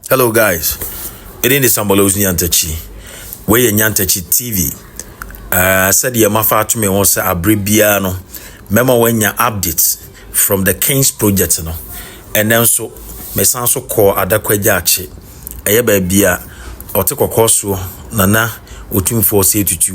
Hello guys, ɛdin de Samuel Owusu Nyantakyi. Wei yɛ Nyantakyi TV. Uh, ah, sɛdeɛ mafa ato me ho sɛ abere biara no, mɛma wanya updates from the Kings project no. Ɛnɛ nso, mesan so kɔɔ Adakwagya Akye. Ɛyɛ baabi a ɔte kɔkɔɔ soɔ nana otumfoɔ sɛ tutu.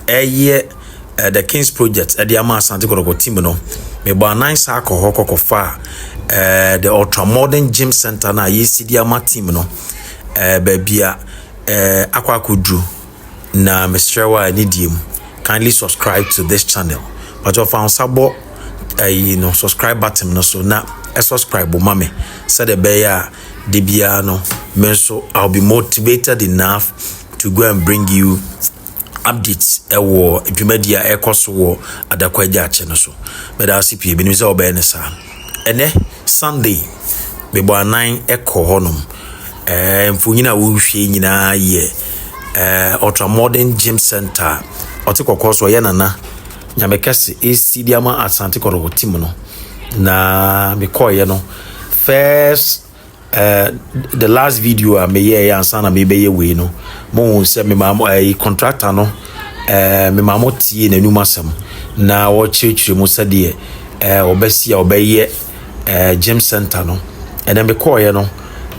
Ɛyɛ eh, the kings project ɛde ama asante kɔtɔkɔ team no mebɔ anan saa kɔ hɔ kɔkɔfa eh, the ultra modern gym center no a yɛsi de ama team no eh, baabi a eh, akɔ akɔduru na mesrɛ wo a ne die mu kindly subscribe to this channel but ɔfa nsa bɔ ayi no subscribe button no so na subscribe ma me sɛdeɛ ɛbɛyɛ a de biara no me nso i'll be motivated enough to go and bring you updates wɔ dwumadi a ɛkɔ so wɔ adako agya akyɛ no so mɛda ase pii menim sɛ ɔbɛyɛ ne saa ɛnɛ sunday mebɔ anan ɛkɔ hɔnom ɛɛ mfonyin a wohwie nyinaa yɛ ɛɛ ultra modern gym center ɔte kɔkɔɔ so ɔyɛ nana nyame kɛse esi di ama asante kɔrɔ wɔ tim no na mekɔɔyɛ no first Uh, the last video a meyɛɛ ansa na mebɛyɛ wei no mohu sɛ memaa mo ɛyi eh, contractor no ɛɛ eh, memaa mo tie n'anum asɛm na wɔkyerɛkyerɛ mu sɛdeɛ ɛɛ eh, ɔbɛsi a ɔbɛyɛ ɛɛ gym center no ɛnna mekɔɔeɛ no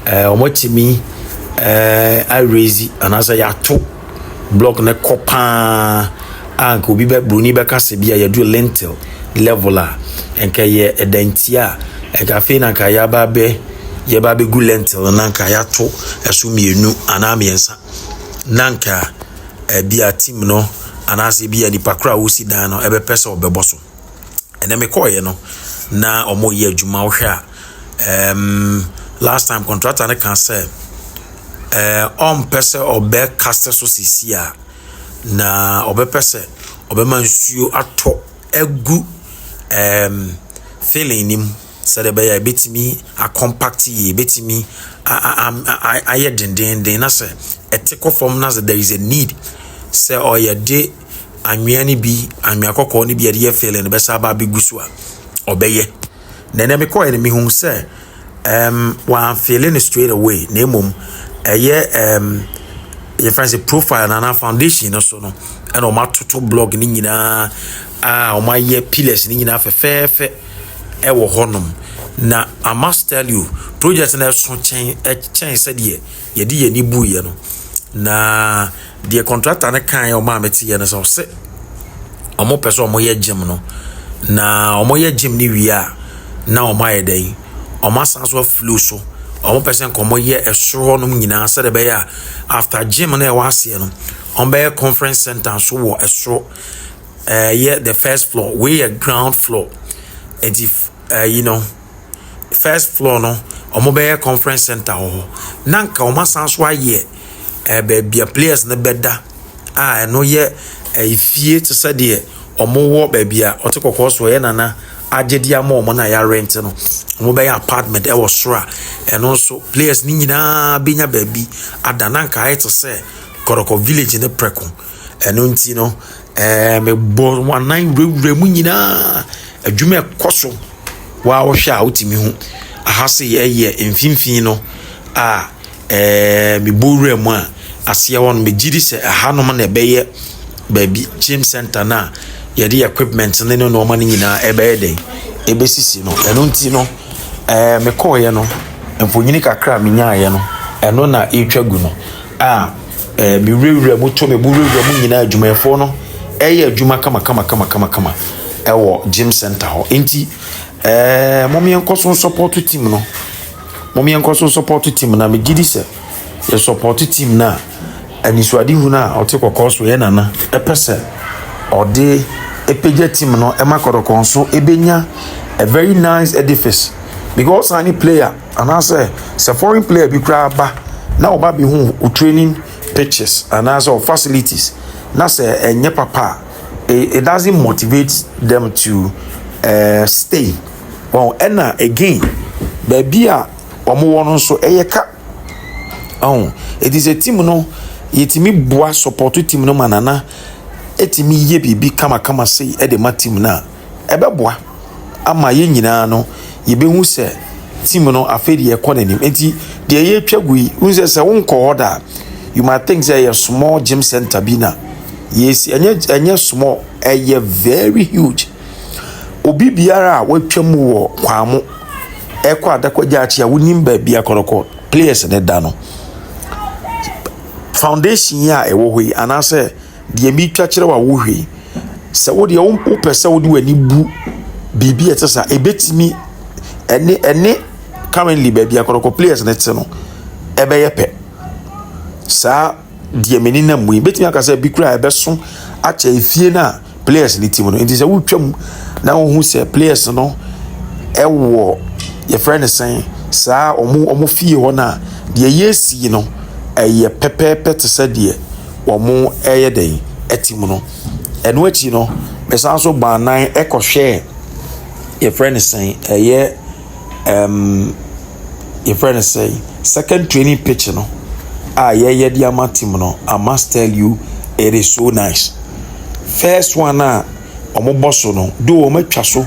ɛɛ wɔatumi ɛɛ arezi anaasɛ yɛato. block no kɔ paa a nka obi bɛ broni bɛka sɛ bi a yɛduru lintel level a nka yɛ ɛdanti a nka afei na nka yɛaba abɛ yɛba abɛgu lintel no na nka yɛato ɛso mmienu anaa mmiɛnsa na nka ɛbi a team no anaasɛ bi a nipa koro a wɔsi dan no ɛbɛpɛ sɛ ɔbɛbɔ so. ɛnɛ me kɔɔeɛ no na ɔmo yɛ adwuma wohwɛ a ɛɛm last time contractor no kan sɛ ɛɛ ɔmpɛ sɛ ɔbɛ kasa so sisi a na ɔbɛpɛ sɛ ɔbɛma nsuo atɔ agu ɛɛm filling no mu sɛdeɛ ɛbɛyɛ a ebetumi akɔmpact yie ebetumi a a a ayɛ dendeenden na sɛ ɛte kɔ fam na sɛ there is a need sɛ ɔyɛ de. anwea no bi anwea kɔkɔɔ no bi yɛde yɛ filling no bɛsa aba abɛgu so a ɔbɛyɛ na ɛnɛ mekɔɛ no mehu sɛ um, wɔamfeele no straight away na mmom ɛyɛ um, yɛfrɛ sɛ profile no anaa foundation no so no ɛna wɔn atoto blog no nyinaa a wɔn ayɛ pillars no nyinaa fɛfɛɛfɛ ɛwɔ hɔnom na i must tell you project no ɛso kyɛn ɛkyɛn sɛdeɛ yɛde yɛn ani buiɛ no na deɛ kɔntrakta no kaeɛ ɔmo a meteɛ no sɛ ɔse ɔmo pɛ sɛ ɔmo yɛ gyem no na ɔmo yɛ gyem no wie a na ɔmo ayɛ dɛn ɔmo asan so afilo so ɔmo pɛ sɛ nka ɔmo yɛ ɛsoro hɔnom nyinaa sɛdeɛ ɛbɛyɛ a after gyem no ɛwɔ aseɛ no ɔmo bɛyɛ conference center nso wɔ ɛsoro ɛyɛ the first floor wei yɛ ground floor nti ɛyi no. First floor no, wɔbɛyɛ conference centre wɔ hɔ, na anka wɔasan nso ayɛ ɛɛ baabi a players no bɛda a ɛno yɛ efie te sɛ deɛ wɔwɔ baabi a ɔte kɔkɔɔ so ɔyɛ nana agye de ama wɔn na yɛarente no. Wɔbɛyɛ apartment wɔ soro a ɛno nso players no nyinaa bɛnya baabi ada na anka ayɛ te sɛ kɔrɔkɔ village ne prɛko. Ɛno nti no, ɛɛ mebɔ wɔn anan wurawura mu nyinaa. Adwuma ɛkɔ so. Wa wohwɛ a wotumi hu. Aha se ɛyɛ mfimfini no a ɛɛ mebɔ wura mu a aseɛ hɔ no megye di sɛ ɛhanom na ɛbɛyɛ baabi gym center no a yɛde equipment no ne nneɛma no nyinaa ɛbɛyɛ dɛn ɛbɛsisi no. Ɛno nti no ɛɛ mekɔɔeɛ no mfonini kakra a menyaeɛ no ɛno na ɛretwa gu no. a ɛɛ me wurawura mu to me bo wurawura mu nyinaa adwumayɛfoɔ no ɛyɛ adwuma kama kama kama kama kama ɛwɔ gym center hɔ nti ɛɛ mo yɛn nkɔ so support team no mo yɛn nkɔ so support team na megye di sɛ yɛ support team na anisoade hunu a ɔte kɔkɔɔ so yɛ nana ɛpɛ sɛ ɔde ɛpɛgya team no ɛma kɔdɔkɔn so ɛbɛnya a very nice edifice because any player. Anaasɛ sɛ foreign player bi koraa ba na ɔba bɛhu wo training pitches anaasɛ wo facilities na sɛ ɛnyɛ papa a, it doesn't motivate them to uh, stay. Well, ɛna again, baabi a wɔwɔ no nso ɛyɛ ka. Oh, it is a team no, yɛtumi boa support team no ma nana ɛtumi yɛ biribi kamakama sei ɛde ma team no a. ɛbɛboa ama yɛn nyinaa no yɛbɛhu sɛ team no afei deɛ ɛkɔ n'anim nti deɛ yɛtwa gu yi wohu sɛ sɛ wonkɔ hɔ da a you might think sɛ ɛyɛ small gym center bi na yɛsi ɛnyɛ ɛnyɛ small ɛyɛ very huge obi biara a watwa mu wɔ kwan mo ɛkɔ adakɔgya akyi a wonim baabi akɔnɔkɔ players ne da no foundation yi a ɛwɔ hɔ yi anaasɛ Deɛ meretwa kyerɛ wo a wohwɛ yi, sɛ wo deɛ wopɛ sɛ wode w'ani bu biribi a ɛte saa ɛbɛtumi ɛne ɛne currently baabi a kɔrɔkɔ players no te no ɛbɛyɛ pɛ saa deɛ m'ani nam mu yi bɛtumi aka sɛ bi kura ɛbɛso akyɛ efie no a players no ti mu no nti sɛ wotwa mu na wohu sɛ players no ɛwɔ yɛfrɛ no sɛn saa ɔmo ɔmo fie hɔ no a deɛ yɛsi no ɛyɛ pɛpɛɛpɛ te sɛ deɛ wɔreyɛ dɛn? Ɛte mu no. Ɛno akyi no, mesan nso baa nan kɔhwɛɛ yɛfrɛ no sɛn ɛyɛ ɛɛm yɛfrɛ no sɛn second training pitch no a yɛyɛ de ama team no. I must tell you it is so nice. First one a wɔbɔ so no, though wɔatwa so.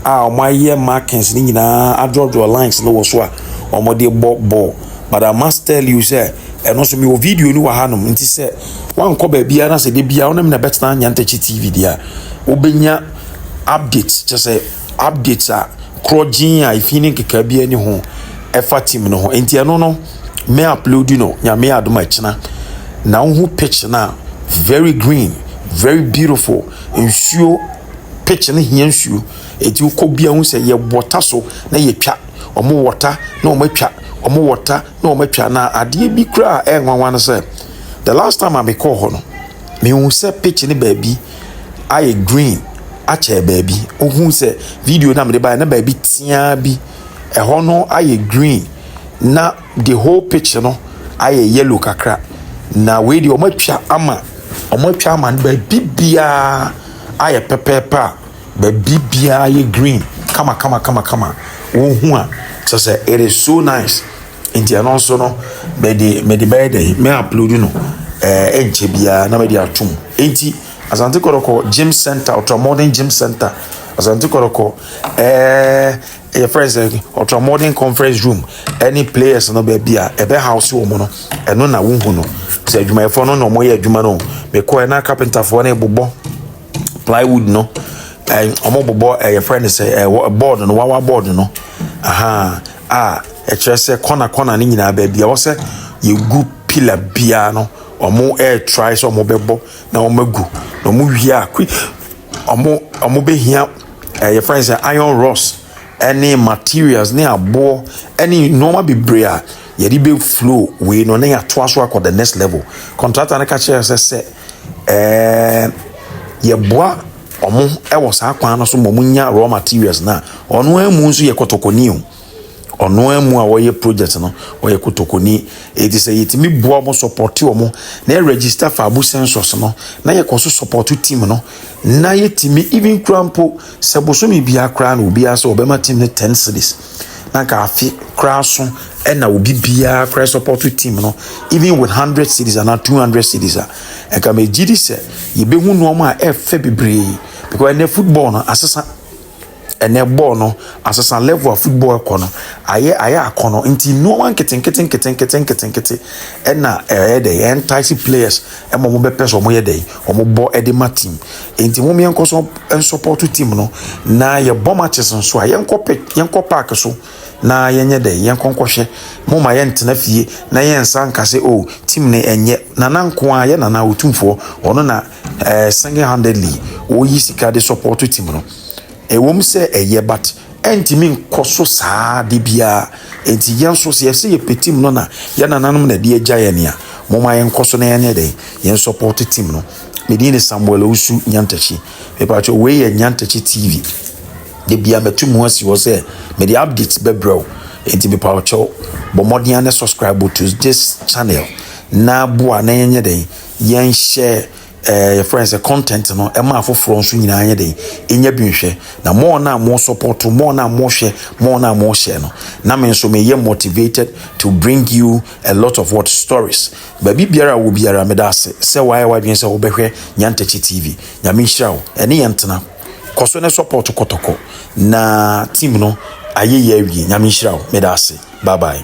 a wɔayɛ markings no nyinaa adrɔdrɔ lines no wɔ so a wɔde bɔ bɔɔl but i must tell you sɛ ɛno nso mewɔ video no wɔ hanom nti sɛ wankɔ baabiara na sɛ de biara wɔn na ɛbɛtena nyantakyi tv deɛ a wobɛnya update kyɛ sɛ update a korɔ gyeen a efi ne nkeka bi ani ho ɛfa team no ho nti ɛno no mɛ upload no nyame adom ɛkyena na wohu pitch no a very green very beautiful nsuo Pitch no hia nsuo. Eti wokɔ bia hu sɛ yɛ wɔta so na yɛtwa. Wɔn wɔta na wɔn atwa. Wɔn wɔta na wɔn atwa. Na adeɛ bi kura a ɛyɛ nwanwa no sɛ the last time a mekɔɔ hɔ no mehu sɛ pitch no baabi ayɛ green akyɛ baabi. Wohu sɛ video na mede baeɛ na baabi teaa bi ɛhɔ no ayɛ green na the whole picture no ayɛ yellow kakra na wei deɛ wɔn atwa ama wɔn atwa ama no baabi biara ayɛ pɛpɛɛpɛ a baabi biara yɛ green kama kama kama kama wɔn ho a kyerɛ sɛ it is so nice nti ɛno nso no mɛde mɛde bɛyɛ dɛ mɛ upload no ɛɛ eh, ɛnkyɛ biara na mɛde atum nti asante kɔrɔkɔ gym center ultra modern gym center asante kɔrɔkɔ ɛɛ. Eh, yɛfrɛ sɛ ultra modern conference room ɛne players no baabi a ɛbɛ house wɔ mu no ɛno na wohu no sɛ adwumayɛfoɔ no na wɔyɛ adwuma no mekɔɛ na carpenterfoɔ no bobɔ plywood no wɔn bobɔ yɛfrɛ no sɛ board no wawa board no aha a ɛkyerɛ sɛ kɔna kɔna no nyinaa baabi a wɔsɛ yɛgu pillar biara no wɔn ɛretrae sɛ wɔn bɛbɔ na wɔn agu na wɔn wie a wɔn wɔn bɛhia Eh, yɛfrɛ no sɛ iron rods ne materials ne aboɔ ne nneɛma bebree a yɛde bɛ flow wei no na yɛatoa so akɔ the next level contractor no ka kyerɛ sɛ sɛ ɛɛ yɛboa wɔn wɔ saa kwan no so ma wɔn nya raw materials na ɔno ara mu nso yɛ kɔtɔkɔni o. ɔno ara mu a wɔyɛ project no wɔyɛ kotokoni eti sɛ yɛtumi boa wɔn sɔpɔte wɔn na yɛ register faabu census no na yɛkɔ so sɔpɔto team no na yɛtumi even kura mpo sɛ bosome biara koraa na obiara sɛ ɔbɛma team no ten cities na nka afe koraa so ɛna obi biara koraa sɔpɔto team no even with hundred cities anaa two hundred cities a nka mɛ gyi di sɛ yɛbɛhu nneɛma a ɛfɛ bebree because ɛnɛ football no asesa. ɛnɛ bɔɔl no asesa level a football kɔ no ayɛ ayɛ akɔnɔ nti nneɛma nketenkete nketenkete nketenkete ɛna ɛyɛ dɛ entice players ɛma wɔn bɛpɛ so wɔn yɛ dɛ wɔn bɔ ɛde ma team nti wɔn yɛn nkɔ so support team no na yɛ bɔ matches nso a yɛn kɔ pit yɛn kɔ park so na yɛn yɛ dɛ yɛn kɔ nkɔhwɛ mo ma yɛn tena fie na yɛn nsa nkase o oh, team ne ɛnyɛ nana nko a yɛ nana otumfoɔ ɔno na eh, single handedly wɔyi sika de support team no ɛwom sɛ ɛyɛ but ɛntumi nkɔ so saa de biara nti yɛn nso sɛ yɛsɛ yɛpɛ team no na yɛn nananom na ɛde agya yɛn nea moma yɛnkɔ so na yɛn yɛ dɛn yɛn support team no medin ne samuel owusu nyantakyi mepatwɛ wei yɛ nyantakyi tv de bia mɛtu mu asi hɔ sɛ mede updates bɛbrɛ wo nti mepatwɛ bɔ mmɔden ne subscribe to this channel na boa na yɛnyɛ dɛn yɛnhyɛ ɛɛ yɛfrɛ no sɛ content no ɛma afoforɔ nso nyinaa nyɛ den ɛnya bi nhwɛ na mo na mo support mo na mo hwɛ mo na mo hyɛ no na me nso meyɛ motivated to bring you a lot of what stories baabi biara wɔ biara meda ase sɛ wayɛ wadwene sɛ wobɛhwɛ Nyantakyi TV nyame nhyira wo ɛne yɛn tena kɔ so ne support kɔtɔkɔ na team no ayɛ yɛ awie nyame nhyira wo meda ase bye bye